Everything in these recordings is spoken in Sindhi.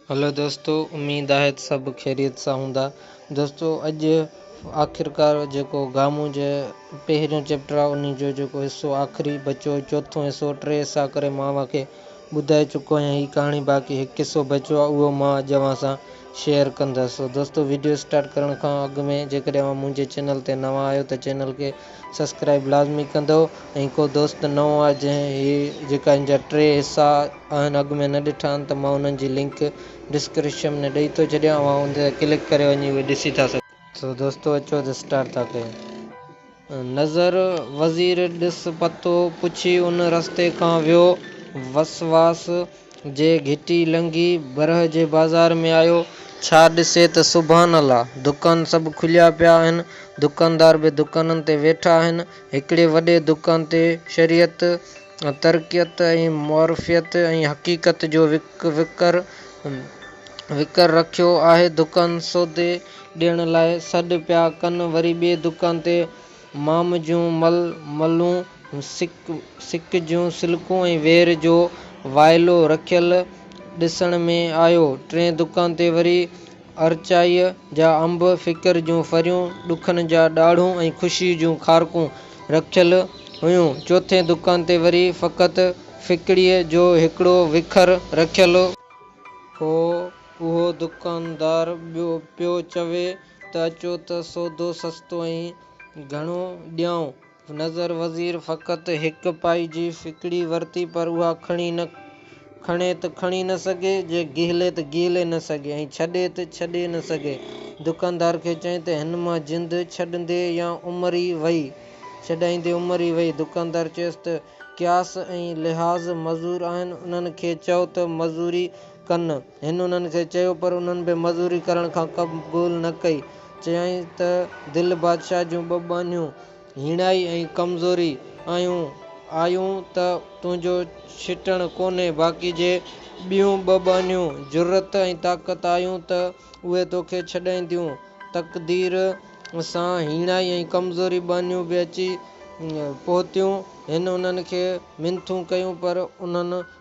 هلو دوستو اميد آهي ته سڀ خيريت سان هوندا دوستو اڄ آخرڪار جيڪو گامون جي پهريون چيپٽر آهي انهي جو جيڪو حصو آخري بچو چوٿون حصو ٽي حصا ڪري مان اوهان کي ٻڌائي چڪو آهيان هي ڪهاڻي باقي هڪ حصو بچو آهي اهو مان اڄ اوهان سان شيئر ڪندس سو دوستو ويڊيو اسٽارٽ ڪرڻ کان اڳ ۾ جيڪڏهن اوهان منهنجي چينل تي نوان آهيو ته چينل کي سبسڪرائب لازمي ڪندو ۽ ڪو دوست نئون آهي جنهن هي جيڪا هن جا ٽي حصا اوهين اڳ ۾ نه ڏٺا آهن ته مان انهن جي لنڪ ڊسڪريشم ۾ ڏئي ٿو ڇڏيان اوهان ان تي ڪلڪ ڪري وڃي اهي ڏسي ٿا سگهو. سو دوستو اچو ته اسٽارٽ ٿا ڪيون نظر وزير ڏس پتو پڇي ان رستي کان ويو وسواس جي گهٽي لنگهي برهه جي بازار ۾ آيو ڇا ڏسي ته سبحان الله دڪان سڀ کليا پيا آهن دڪاندار به دڪانن تي ويٺا آهن هڪڙي وڏي دڪان تي شريعت ترقيت ۽ معرفيت ۽ حقيقت جو وکر وکر رکيو آهي. دڪان سودي ڏيڻ لاء سڏ پيا ڪن، وري ٻئي دڪان تي مام جون مل ملون، سڪ سڪ جون سلڪون ۽ وير جو وائلو رکيل ڏسڻ ۾ آيو. ٽئين دڪان تي وري ارچائيء جا انب، فڪر جون ڦريون، ڏکن جا ڏاڙهون ۽ خوشيء جون کارڪون رکيل هيون. چوٿين دڪان تي وري فقط ڦڪڙيء جو هڪڙو وکر رکيل هو. اهو دڪاندار ٻيو پيو چوي ته اچو ته سودو سستو ۽ گهڻو ڏيائون. نظر وزير فقط هڪ پائي جي ڦڪڙي ورتي پر اها کڻي نه کڻي ته کڻي نه سگهي، جي گهلي ته گهلي نه سگهي ۽ ڇڏي ته ڇڏي نه سگهي. دڪاندار کي چيائين ته هن مان جند ڇڏندي يا عمر ئي وئي؟ ڇڏائيندي عمر ئي وئي. دڪاندار چيس ته قياس ۽ لحاظ مزور آهن، انهن کي چئو ته مزوري ڪن. هن انهن کي چيو پر انهن به مزوري ڪرڻ کان قبول نه ڪئي. چيائين ته دل بادشاهه جون ٻه ٻانهيون، هيڻائي ۽ ڪمزوري، آيون آيون ته تنهنجو ڇٽڻ ڪونهي، باقي جي ٻيون ٻه ٻانهيون، جرئت ۽ طاقت، آيون ته اهي توکي ڇڏائينديون. تقدير سان هيڻائي ۽ ڪمزوري ٻانهيون به اچي پهتيون. هن انهن کي منٿون ڪيون پر انهن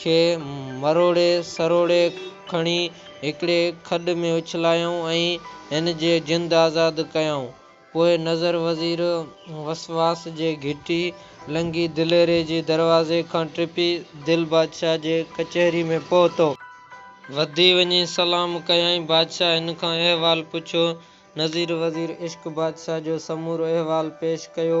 کي مروڙي سروڙي کڻي هڪڙي کڏ ۾ اڇلايائون ۽ هن جي جند آزاد ڪيائون. پوء نظر وزير وسواس جي گهٽي لنگهي دليري جي دروازي کان ٽپي دل بادشاهه جي ڪچهري ۾ پهتو. وڌي وڃي سلام ڪيائين. بادشاهه هن کان احوال پڇيو. نظر وزير عشق بادشاهه جو سمورو احوال پيش ڪيو.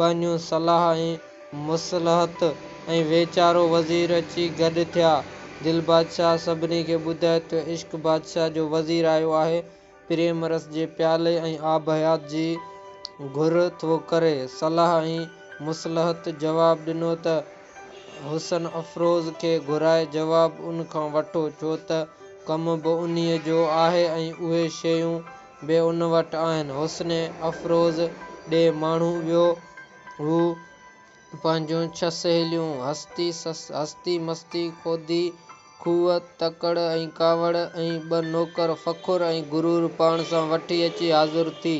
ٻانهيون صلاح ۽ مصلحت ۽ ويچارو وزير اچي گڏ ٿيا. دل بادشاهه سڀني کي ٻڌائي ته عشق بادشاهه جو وزير آيو آهي، پريم رس جي پيالي ۽ آب حيات جي گهر ٿو ڪري. صلاح ۽ مصلحت جواب ڏنو ته حسن افروز کي گهرائي جواب ان کان وٺو، ڇو ته ڪم به انهيء جو آهي ۽ اهي شيون به ان وٽ آهن. حسن افروز ڏي ماڻهو ويو. هو پنهنجون ڇهه سهيليون، هستي، هستي مستي، خودي، کوهه، تڪڙ ۽ ڪاوڙ ۽ ٻه نوڪر فخر ۽ غرور پاڻ سان وٺي اچي حاضر ٿي.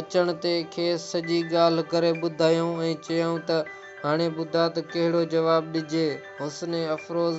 اچڻ تي کيس سڄي ڳالهه ڪري ٻڌايائون ۽ چيائون ته هاڻي ٻڌاء ته ڪهڙو جواب ڏجي. حسن افروز.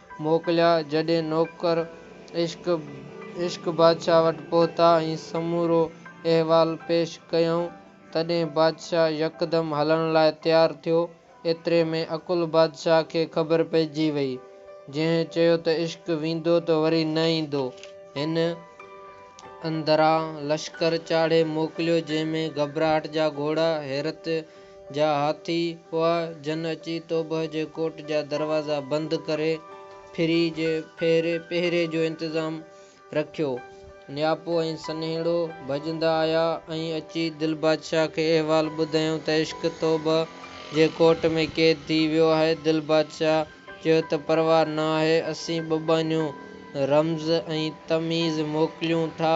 موڪليا، جڏهن نوڪر عشق عشق بادشاهه وٽ پهتا ۽ سمورو احوال پيش ڪيائون، تڏهن بادشاهه يڪدم هلڻ لاء تيار ٿيو، ايتري ۾ عقل بادشاهه کي خبر پئجي وئي، جنهن چيو ته عشق ويندو ته وري نه ايندو، هن اندران لشڪر چاڙهي موڪليو، جنهن ۾ گهٻراهٽ جا گهوڙا حيرت. جا هاٿي هئا، جن اچي توبه جي ڪوٽ جا دروازا بند ڪري پھري جي پهري جو انتظام رکيو. نياپو ۽ سنهيڙو ڀڄندا آيا ۽ اچي دل بادشاهه کي احوال ٻڌايائون ته عشق توبه جي ڪوٽ ۾ قيد ٿي ويو آهي. دل بادشاهه چيو ته پرواهه نه آهي، اسين ٻٻانيون رمز ۽ تميز موڪليون ٿا.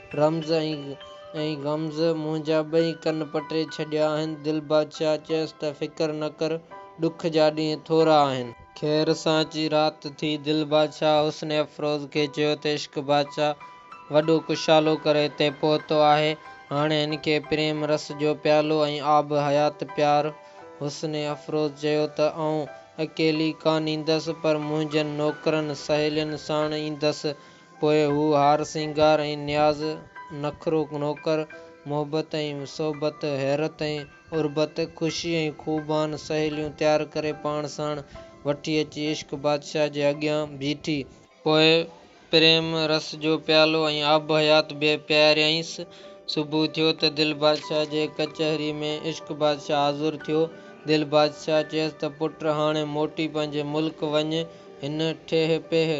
رمز ۽ غمز منهنجا ٻئي ڪن پٽي ڇڏيا آهن. دل بادشاهه چيس ته فڪر نه ڪر، ڏک جا ڏينهن ٿورا آهن. خير سان اچي رات ٿي. دل بادشاهه حسن افروز کي چيو ته عشق بادشاهه وڏو ڪشالو ڪري هتي پهتو آهي. هاڻي هن کي پريم رس جو پيالو ۽ آب حيات پيار. حسن افروز چيو ته آئون اڪيلي ڪانه ايندس، پر منهنجن نوڪرن سهيلين ساڻ ايندس. پوء هو هار سينگار ۽ نياز، نخرو نوڪر، محبت ۽ صحبت، حيرت ۽ عربت، خوشي ۽ خوبان، سهيليون تيار ڪري پاڻ ساڻ وٺي اچي عشق بادشاهه جي اڳيان بيٺي. پوء پريم رس جو پيالو ۽ آب حيات به پياريائينس. صبح ٿيو ته دل بادشاهه جي ڪچهري ۾ عشق بادشاهه حاضر ٿيو. دل بادشاهه چيس ته پٽ هاڻي موٽي پنهنجي ملڪ وڃ. هن ٺيهه پيهه.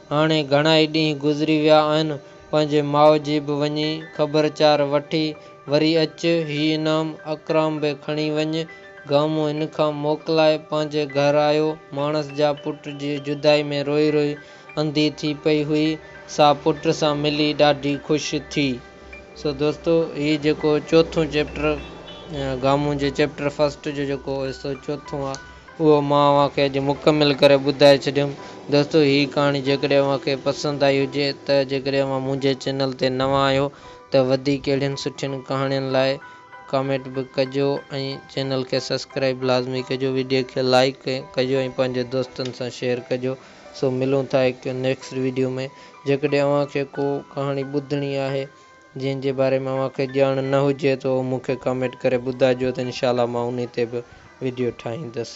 هاڻي گهڻائي ڏينهن گذري ويا آهن، پنهنجي ماء جي به وڃي خبرچار وٺي وري اچ، هي انعام اڪرام به کڻي وڃ. گامو هن کان موڪلائي پنهنجي گهر آيو. ماڻس جا پٽ جي جدائي ۾ روئي روئي انڌي ٿي پئي هئي، سا پٽ سان ملي ڏاڍي خوش ٿي. سو دوستو هي جيڪو چوٿون چيپٽر گامو جي چيپٽر فرسٽ جو جيڪو حصو چوٿون آ. اهو مان اوهان کي اڄ مڪمل ڪري ٻڌائي ڇڏيم. دوستو هي ڪهاڻي جيڪڏهن اوهان کي پسند آئي هجي ته جيڪڏهن اوهان منهنجي چينل تي نوان آهيو ته وڌيڪ اهڙين سٺين ڪهاڻين لاء ڪامينٽ به ڪجو ۽ چينل کي سسڪرائب لازمي ڪجو ويڊيو کي لائيڪ ڪجو ۽ پنهنجي دوستن سان شيئر ڪجو سو ملون ٿا هڪ نيڪسٽ ويڊيو ۾ جيڪڏهن اوهان کي ڪو ڪهاڻي ٻڌڻي آهي جنهن جي باري ۾ اوهان کي ڄاڻ نه هجي ته اهو مون کي ڪامينٽ ڪري ٻڌائجو ته انشاء الله مان انهي تي به ويڊيو ٺاهيندس.